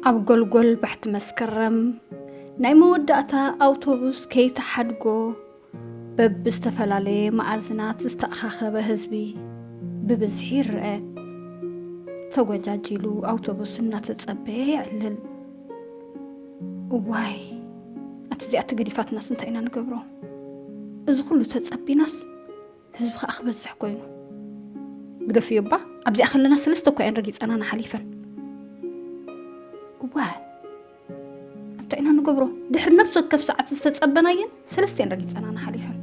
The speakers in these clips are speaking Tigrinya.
ኣብ ጎልጎል ባሕቲ መስከረም ናይ መወዳእታ ኣውቶቡስ ከይተሓድጎ በብዝተፈላለየ መኣዝናት ዝተኣኻኸበ ህዝቢ ብብዝሒ ይረኣ። ተጎጃጂሉ ኣውቶቡስ እናተጸበየ የዕልል። እዋይ ኣቲ እዚኣ ተገዲፋትናስ እንታይ ኢና ንገብሮ? እዚ ኩሉ ተጸቢናስ ህዝቢ ከኣ ክበዝሕ ኮይኑ ግደፍዮ እባ ኣብዚኣ ከለና ሰለስተ እኳ እየን ረጊፀናና ሓሊፈን እዋ እንታይ ኢና ንገብሮ ድሕሪ ነብሲ ወከፍ ሰዓት ዝተፀበናየን ሰለስተ እየን ረጊፀናና ሓሊፈን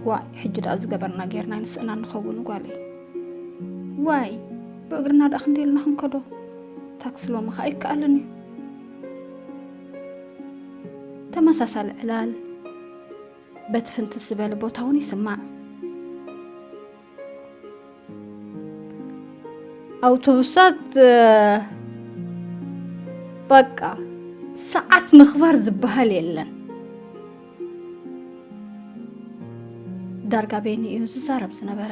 ዋይ ሕጂ ደኣ ዝገበርና ጌርና ይንስእና ንኸውን ጓለይ ዋይ ብእግርና ደኣ ክንደይ ኢልና ክንከዶ ታክሲ ሎሚ ከዓ ይከኣልን እዩ ተመሳሳሊ ዕላል በቲ ፍንትት ዝበለ ቦታ እውን ይስማዕ። ኣውቶቡሳት በቃ ሰዓት ምኽባር ዝበሃል የለን። ዳርጋ ቤኒ እዩ ዝዛረብ ዝነበረ።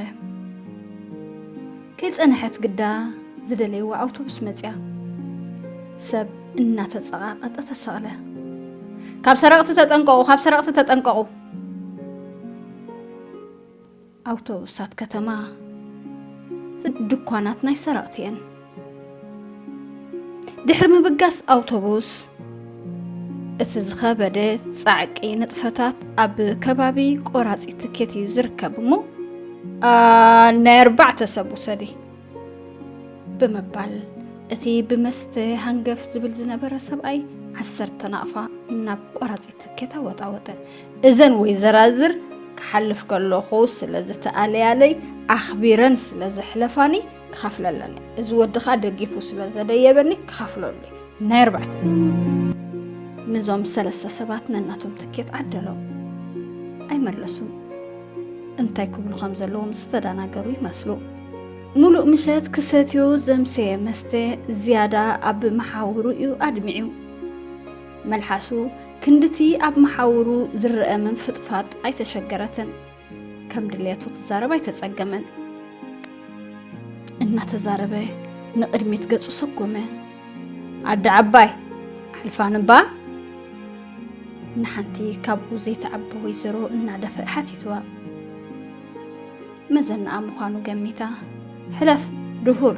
ከይጸንሐት ግዳ ዝደለይዋ ኣውቶቡስ መጽያ። ሰብ እናተጸቓቐጠ ተሰቕለ። ካብ ሰረቕቲ ተጠንቀቑ! ካብ ሰረቕቲ ተጠንቀቑ! ኣውቶቡሳት ከተማ ድኳናት ናይ ሰረቕቲ እየን። ድሕሪ ምብጋስ ኣውቶቡስ እቲ ዝኸበደ ጻዕቂ ንጥፈታት ኣብ ከባቢ ቆራፂ ትኬት እዩ ዝርከብ እሞ ናይ ኣርባዕተ ሰብ ውሰዲ ብምባል እቲ ብመስተ ሃንገፍ ዝብል ዝነበረ ሰብኣይ ዓሰርተ ናቕፋ ናብ ቆራፂ ትኬት ኣወጣወጠ እዘን ወይዘራዝር ክሓልፍ ከለኹ ስለ ዝተኣለያለይ ኣኽቢረን ስለ ዘሕለፋኒ ክኸፍል ኣለኒ እዚ ወዲ ከዓ ደጊፉ ስለ ዘደየበኒ ክኸፍሎ ኣለኒ ናይ ኣርባዕተ ንዞም ሰለስተ ሰባት ነናቶም ትኬት ዓደሎም ኣይመለሱን እንታይ ክብሉ ከም ዘለዎም ዝተደናገሩ ይመስሉ ሙሉእ ምሸት ክሰትዮ ዘምሰየ መስተ ዝያዳ ኣብ መሓውሩ እዩ ኣድሚዑ መልሓሱ ክንድቲ ኣብ መሓውሩ ዝረአ ምንፍጥፋጥ ኣይተሸገረትን ከም ድልየቱ ክዛረብ ኣይተጸገመን። እናተዛረበ ንቕድሚት ገጹ ሰጎመ። ኣደ ዓባይ ኣሕልፋን እባ ንሓንቲ ካብኡ ዘይትዓቢ ወይዘሮ እናደፈእ ሓቲትዋ። መዘናኣ ምዃኑ ገሚታ ሕለፍ ድሁር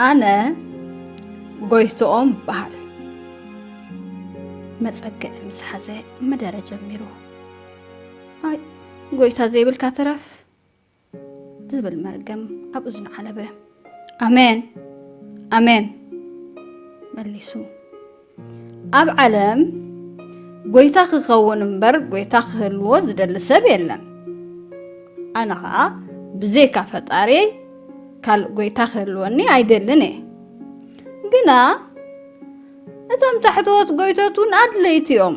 ኣነ ጎይትኦም በሃል መጸግዕ ምስ ሓዘ መደረ ጀሚሩ ኣይ ጎይታ ዘይብልካ ትረፍ ዝብል መርገም ኣብ እዝኑ ዓለበ ኣሜን ኣሜን መሊሱ ኣብ ዓለም ጎይታ ክኸውን እምበር ጎይታ ክህልዎ ዝደሊ ሰብ የለን ኣነ ከዓ ብዘይካ ፈጣሪ ካልእ ጎይታ ክህልወኒ ኣይደልን እየ ግና እቶም ታሕተዎት ጎይቶት እውን ኣድለይቲ እዮም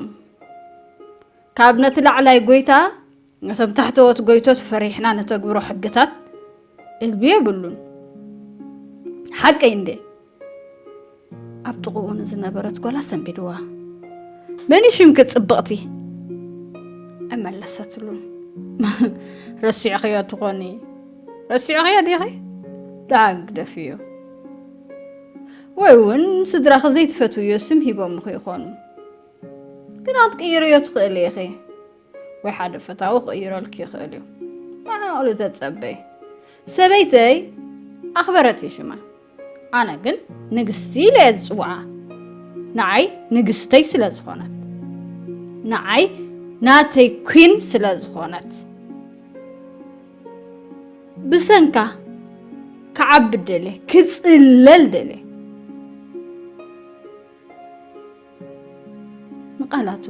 ካብ ነቲ ላዕላይ ጎይታ ነቶም ታሕተዎት ጎይቶት ፈሪሕና ነተግብሮ ሕግታት እልቢ የብሉን ሓቀይ እንዴ ኣብ ጥቕኡ ንዝነበረት ጓላ ሰንቢድዋ መን ሽምኪ ፅብቕቲ እመለሰትሉን ረሲዕኽዮ ትኾኒ ረሲዕኽዮ ዲኺ ደዓግ ደፍዮ ወይ እውን ስድራኺ ዘይትፈትውዮ ስም ሂቦምኺ ይኾኑ ግን ኣትቅይርዮ ትኽእሊ ኢኺ ወይ ሓደ ፈታዊ ክቕይረልኪ ይኽእል እዩ ማዕቕሉ ተጸበይ ሰበይተይ ኣኽበረት እዩ ሽማ ኣነ ግን ንግስቲ ኢለ እየ ዝጽውዓ ንዓይ ንግስተይ ስለ ዝኾነት ንዓይ ናተይ ኩን ስለ ዝኾነት ብሰንካ ክዓቢ ደልየ ክጽለል ደልየ ንቃላቱ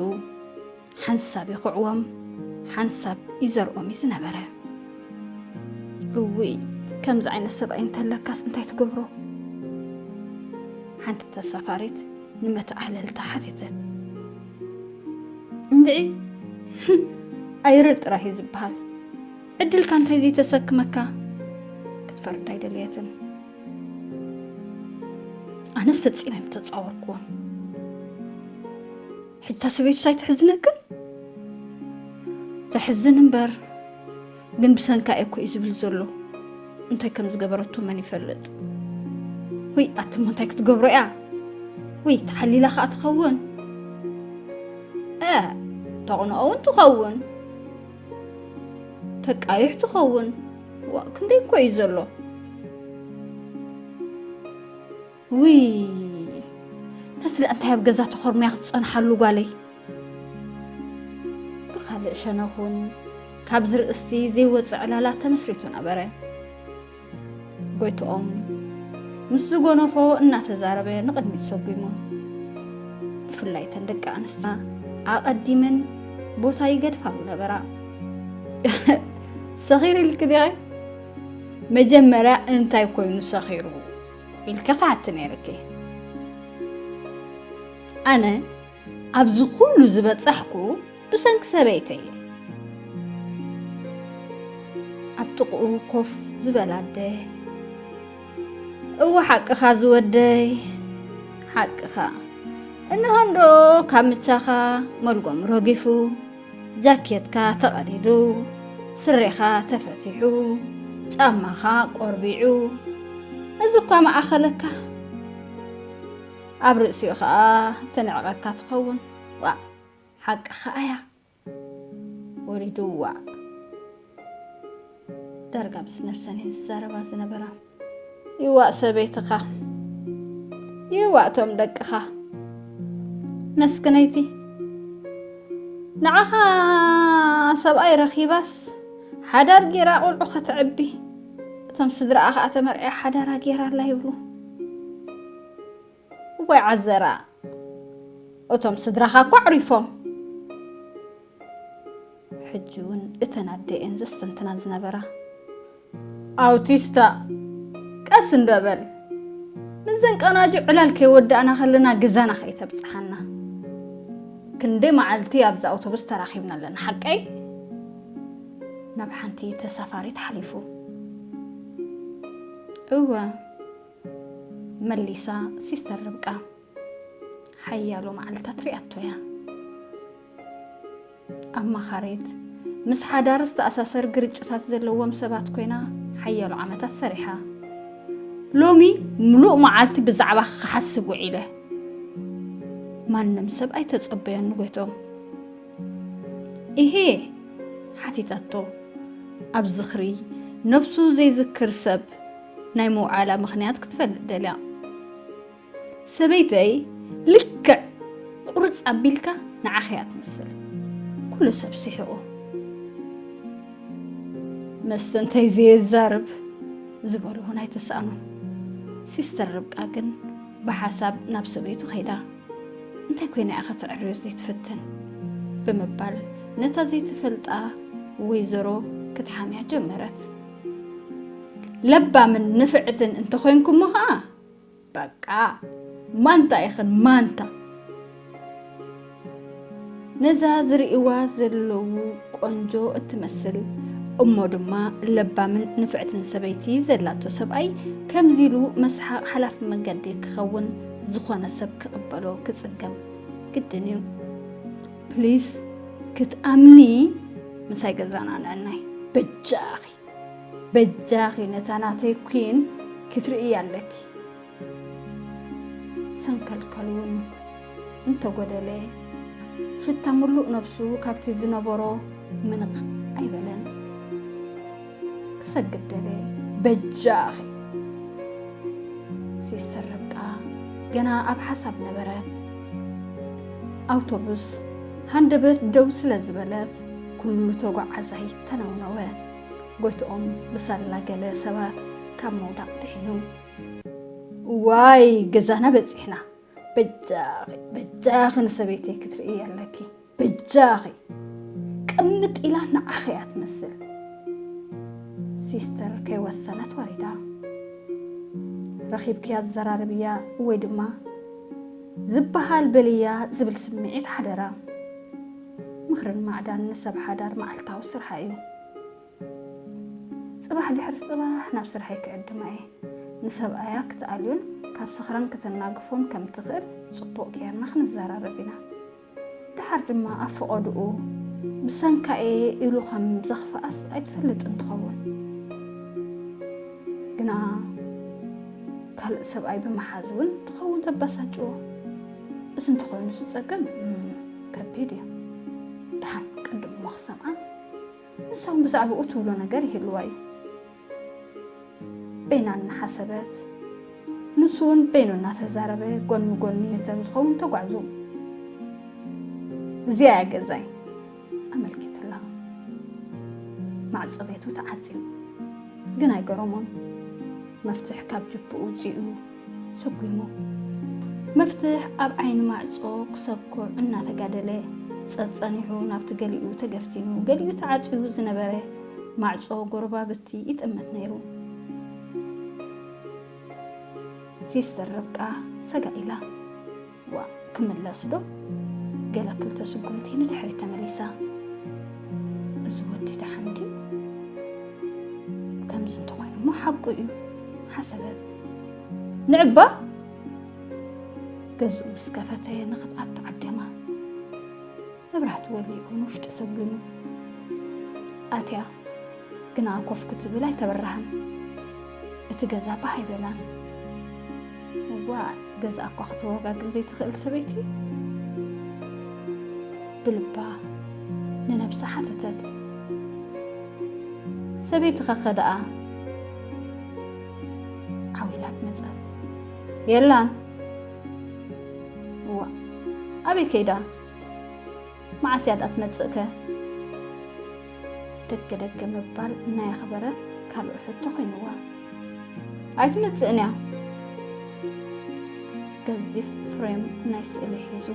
ሓንሳብ ይኹዕዎም ሓንሳብ ይዘርኦም እዩ ዝነበረ። እውይ ከምዚ ዓይነት ሰብኣይ እንተለካስ እንታይ ትገብሮ? ሓንቲ ተሳፋሪት ንመተዓለልታ ሓተተት። እንድዒ ኣይርር ጥራይ እዩ ዝበሃል ዕድልካ እንታይ ዘይተሰክመካ ክትፈርድ ኣይደለየትን። ኣነስ ፈፂመ ኣይምተፃወርኩዎን ሕጂ እታ ሰበይቱ ኣይትሕዝነክን ተሕዝን እምበር ግን ብሰንካ እኮ እዩ ዝብል ዘሎ እንታይ ከም ዝገበረቶ መን ይፈልጥ ወይ ኣትሞ እንታይ ክትገብሮ እያ ወይ ተሓሊላ ከዓ ትኸውን ተቕንኦ እውን ትኸውን ተቃይሕ ትኸውን ዋእ ክንደይ እኮ እዩ ዘሎ ውይ ነስለ እንታይ ኣብ ገዛ ተኾርምያ ክትፀንሓሉ ጓለይ ብካልእ ሸነኹን ካብዚ ርእሲ ዘይወፀ ዕላላ ተመስሪቱ ነበረ ጎይትኦም ምስ ዝጎነፎ እናተዛረበ ንቕድሚት ሰጒሙ ብፍላይ ተን ደቂ ኣንስትና ኣቐዲመን ቦታ ይገድፋሉ ነበራ ሰኺሩ ኢልኪ ዲኺ መጀመርያ እንታይ ኮይኑ ሰኺሩ ኢልኪ ክሓቲ ነይርኪ ኣነ ኣብዚ ኩሉ ዝበፃሕኩ ብሰንኪ ሰበይተይ እየ ኣብ ጥቕኡ ኮፍ ዝበላ ኣደ እወ ሓቅኻ ዝወደይ ሓቅኻ እንሆ እንዶ ካብ ምቻኻ መልጎም ረጊፉ ጃኬትካ ተቐዲዱ፣ ስሬኻ ተፈቲሑ፣ ጫማኻ ቆርቢዑ፣ እዚ እኳ መኣኸለካ ኣብ ርእሲኡ ኸኣ ትንዕቐካ ትኸውን። ዋእ ሓቅኻ ኣያ ወሪዱዋ። ዳርጋ ምስ ነብሰን እየን ዝዛረባ ዝነበራ። ይዋእ ሰበይትኻ ይዋእ ቶም ደቅኻ መስክነይቲ ንዓኻ ሰብኣይ ረኺባስ ሓዳር ጌራ ቁልዑ ከተዕቢ እቶም ስድራኣ ከዓ ተመርዕያ ሓዳራ ጌራ ኣላ ይብሉ እዋይ ዓዘራ እቶም ስድራኻ እኮ ኣዕሪፎም። ሕጂ እውን እተን ኣደ እየን ዘስተንትና ዝነበራ። ኣውቲስታ ቀስ እንዶ በል ምዘን ቀናጁ ዕላል ከይወዳእና ከለና ገዛና ከይተብጽሓና። ክንደይ መዓልቲ ኣብዛ ኣውቶቡስ ተራኺብና ኣለና ሓቀይ? ናብ ሓንቲ ተሳፋሪት ሓሊፉ። እወ መሊሳ ሲስተር ርብቃ ሓያሎ መዓልታት ሪኣቶ እያ። ኣማኻሪት፣ ምስ ሓዳር ዝተኣሳሰር ግርጭታት ዘለዎም ሰባት ኮይና ሓያሎ ዓመታት ሰሪሓ። ሎሚ ምሉእ መዓልቲ ብዛዕባ ክሓስብ ውዒለ። ማንም ሰብ ኣይተጸበዮን ንጎይቶም። ይሄ ሓቲታቶ ኣብ ዝኽሪ ነብሱ ዘይዝክር ሰብ ናይ ምውዓላ ምኽንያት ክትፈልጥ ደልያ። ሰበይተይ ልክዕ ቁርፅ ኣቢልካ ንዓኺ እያ ትመስል። ኩሉ ሰብ ስሒቑ። መስተንተይ ዘየዛርብ ዝበሎ እውን ኣይተሳእኖን። ሲስተር ርብቃ ግን ብሓሳብ ናብ ሰበይቱ ከይዳ እንታይ ኮይና እያ ከተዕርዮ ዘይትፍትን ብምባል ነታ ዘይትፈልጣ ወይዘሮ ክትሓምያ ጀመረት። ለባምን ንፍዕትን እንተኾይንኩሞ ኸዓ በቃ ማንታ ኢኽን ማንታ ነዛ ዝርእዋ ዘለዉ ቆንጆ እትመስል እሞ ድማ ለባምን ንፍዕትን ሰበይቲ ዘላቶ ሰብኣይ ከምዚ ኢሉ መስሓቕ ሓላፊ መገዲ ክኸውን ዝኾነ ሰብ ክቕበሎ ክፅገም ግድን እዩ ፕሊስ ክትኣምኒ ምሳይ ገዛና ንዕናይ በጃኺ በጃኺ ነታ ናተይ ኩን ክትርእያ ኣለኪ ሰንከልከል እውን እንተጎደለ ሽታ ምሉእ ነብሱ ካብቲ ዝነበሮ ምንቕ ኣይበለን። ክሰግድ ደለየ በጃኺ ሲስተር ርብቃ ገና ኣብ ሓሳብ ነበረ ኣውቶቡስ ሃንደበት ደው ስለ ዝበለት ኩሉ ተጓዓዛይ ተነውነወ ጎይትኦም ብሳላ ገለ ሰባት ካብ ምውዳቕ ድሒኑ እዋይ ገዛና በፂሕና በጃኺ በጃኺ ንሰበይተይ ክትርእይ ኣለኪ በጃኺ ቅምጥ ኢላ ንዓኺ እያ ትመስል። ሲስተር ከይወሰነት ወሪዳ ረኺብክያ ዘራርብያ ወይ ድማ ዝበሃል በልያ ዝብል ስምዒት ሓደራ። ምኽርን ማዕዳን ንሰብ ሓዳር መዓልታዊ ስርሓ እዩ። ጽባሕ ድሕሪ ጽባሕ ናብ ስርሐይ ክዕድማ እየ። ንሰብኣያ ክትኣልዮን ካብ ስኽራን ክተናግፎን ከም ትኽእል ጽቡቕ ጌርና ክንዘራረብ ኢና። ደሓር ድማ ኣብ ፈቐድኡ ብሰንካ እየ ኢሉ ከም ዘኽፍኣስ ኣይትፈልጥን ትኸውን። ግና ካልእ ሰብኣይ ብምሓዝ እውን ትኸውን ዘበሳጭዎ። እዚ እንተኾይኑ እዚ ጸገም ከቢድ እዩ። ደሓን ቅድም እሞ ክሰምዓ ንሳ እውን ብዛዕባኡ ትብሎ ነገር ይህልዋ እዩ። በይና እናሓሰበት ንሱ እውን በይኑ እናተዛረበ ጎን ንጎኒ ዮተን ዝኸውን ተጓዕዙ። እዚኣ እያ ገዛይ ኣመልኪቱላ። ማዕፆ ቤቱ ተዓፅዩ ግን ኣይገረሞን። መፍትሕ ካብ ጅብኡ ኣውፂኡ ሰጒሙ መፍትሕ ኣብ ዓይኒ ማዕጾ ክሰኩዕ እናተጋደለ ጸጸኒሑ ናብቲ ገሊኡ ተገፍቲኑ ገሊኡ ተዓጽዩ ዝነበረ ማዕጾ ጎረባብቲ ይጥምት ነይሩ። ሲስተር ርብቃ ሰጋእ ኢላ። ዋእ ክምለስ ዶ ገለ ክልተ ስጉምቲ ንድሕሪት ተመሊሳ እዚ ወዲ ደሓን ድዩ ከምዚ እንተኾይኑ እሞ ሓቁ እዩ ሓሰበት ንዕባ ገዝኡ ምስ ከፈተ ንክፍኣቱ ዓደማ መብራህቲ ወሊዑ ንውሽጢ ሰጒሙ ኣትያ ግና ኮፍ ክትብል ኣይተበራሃን። እቲ ገዛ ባህ ኣይበላን። እዋ ገዛ እኳ ክተወጋግን ዘይትኽእል ሰበይቲ ብልባ ንነብሳ ሓተተት። ሰበይቲ ከከ ደኣ ዓዊላት መጸት። የላን። እዋ ኣበይ ከይዳ? መዓስ እያ ድኣ ትመጽእ ከ? ደገ ደገ ምባል ናይ ኣኽበረ ካልእ ሕቶ ኮይንዋ። ኣይትመጽእን እያ። ገዚፍ ፍሬም ናይ ስእሊ ሒዙ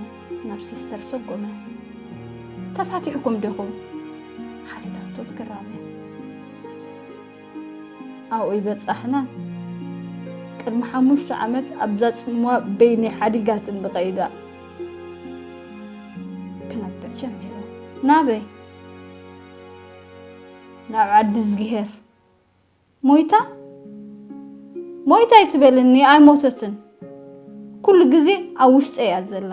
ናብ ሲስተር ሰጎመ። ተፋቲሕኩም ዲኹም? ሓቲታቶ ብግራመ። ኣብኡ ይበጻሕና ቅድሚ ሓሙሽተ ዓመት ኣብዛ ጽምዋ በይነይ ሓዲጋትኒ ብቀይዳ ክነብዕ ጀሚረ ናበይ ናብ ዓዲዝግሄር ሞይታ ሞይታ ኣይትበልኒ ኣይሞተትን ኩሉ ግዜ ኣብ ውሽጠይ እያ ዘላ